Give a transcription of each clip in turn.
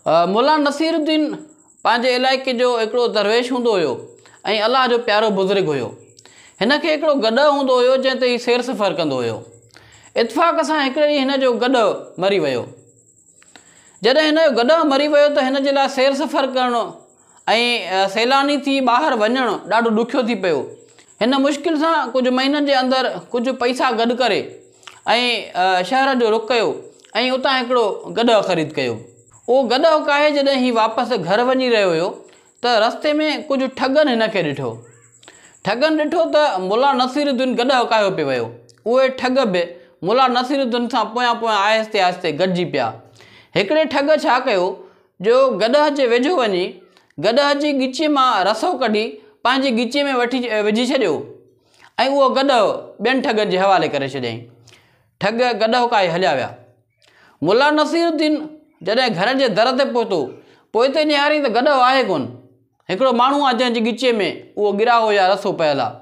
مولانا Nasiruddin پنهنجي علائقي جو هڪڙو درويش هوندو هيو ۽ الله جو پيارو بزرگ هيو. هن کي هڪڙو گڏهه هوندو هيو جنهن تي هي سير سفر ڪندو هيو. اتفاق سان هڪڙي ڏينهن هن جو گڏهه مري ويو. جڏهن هن جو گڏهه مري ويو ته هن جي لاء سير سفر ڪرڻ ۽ سيلاني ٿي ٻاهر وڃڻ ڏاڍو ڏکيو ٿي پيو. هن مشڪل سان ڪجهه مهينن جي اندر ڪجهه پئسا گڏ ڪري ۽ شهر جو رخ ڪيو ۽ اتان هڪڙو گڏهه خريد ڪيو. اهو گڏهه ڪاهي جڏهن هي واپس گهر وڃي رهيو هيو ته رستي ۾ ڪجهه ٺڳن هن کي ڏٺو. ٺڳن ڏٺو ته ملا نصير الدين گڏهه ڪاهيو پئي ويو. اهي ٺڳ به ملا نصير الدين سان پويان پويان آهستي آهستي گڏجي پيا. هڪڙي ٺڳ ڇا ڪيو جو گڏهه جي ويجهو وڃي، گڏهه جي ڳچيء مان رسو ڪڍي پنهنجي ڳچيء ۾ وٺي وجهي ڇڏيو ۽ اهو گڏهه ٻين ٺڳن جي حوالي ڪري ڇڏيائين. ٺڳ گڏهه ڪاهي هليا ويا. ملا نصير الدين جڏهن گهر جي در تي پهتو، پوئتي نهاريائين ته گڏهه آهي ڪونه، هڪڙو ماڻهو آهي جنهن جي ڳچيء ۾ اهو ڳراهو يا رسو پيل آهي.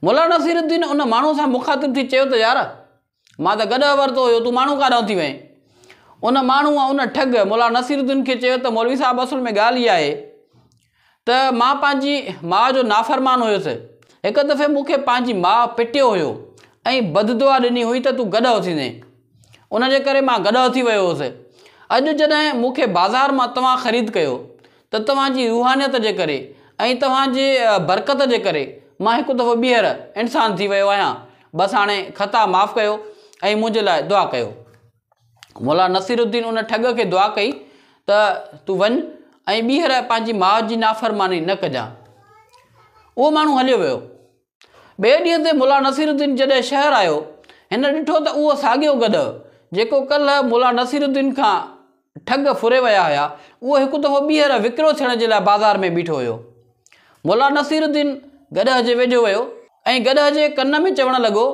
ملا نصير الدين ان ماڻهوء سان مخاطب ٿي چيو ته يار! مان ته گڏهه ورتو هيو، تون ماڻهو ڪاڏانهن ٿي وئين؟ ان ماڻهوء، ان ٺڳ، ملا نصير الدين کي چيو ته مولوي صاحب اصل ۾ ڳالهه اها آهي ته مان پنهنجي ماء جو نافرمان هيس. هڪ دفعي مون کي پنهنجي ماء پٽيو هيو ۽ بددعا ڏني هئي ته تون گڏهه ٿيندين. ان جي ڪري مان گڏهه ٿي ويو هيس. اڄ جڏهن مون کي بازار مان توهان خريد ڪيو ته توهان جي روحانيت جي ڪري ۽ توهان جي برڪت جي ڪري مان هڪ دفعو ٻيهر انسان ٿي ويو آهيان بس هاڻي خطا معاف ڪيو ۽ منهنجي لاء دعا ڪيو مولا نصير الدين ان ٺڳ کي دعا ڪئي ته تون وڃ ۽ ٻيهر پنهنجي ماء جي نافرماني نه ڪجان اهو ماڻهو هليو ويو ٻئي ڏينهن تي ملا نصير الدين جڏهن شهر آيو، هن ڏٺو ته اهو ساڳيو گڏهه، جيڪو ڪلهه ملا نصير الدين کان ٺڳ ڦري ويا هيا، اهو هڪ دفعو ٻيهر وڪرو ٿيڻ جي لاء بازار ۾ بيٺو هيو. ملا نصير الدين گڏهه جي ويجهو ويو ۽ گڏهه جي ڪن ۾ چوڻ لڳو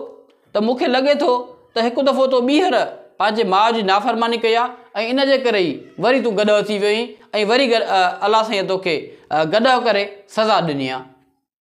ته مون کي لڳي ٿو ته هڪ دفعو تو ٻيهر پنهنجي ماء جي نافرماني ڪئي آ ۽ ان جي ڪري ئي وري تون گڏهه ٿي ويو اهين ۽ وري الله سائينء توکي گڏهه ڪري سزا ڏني آ.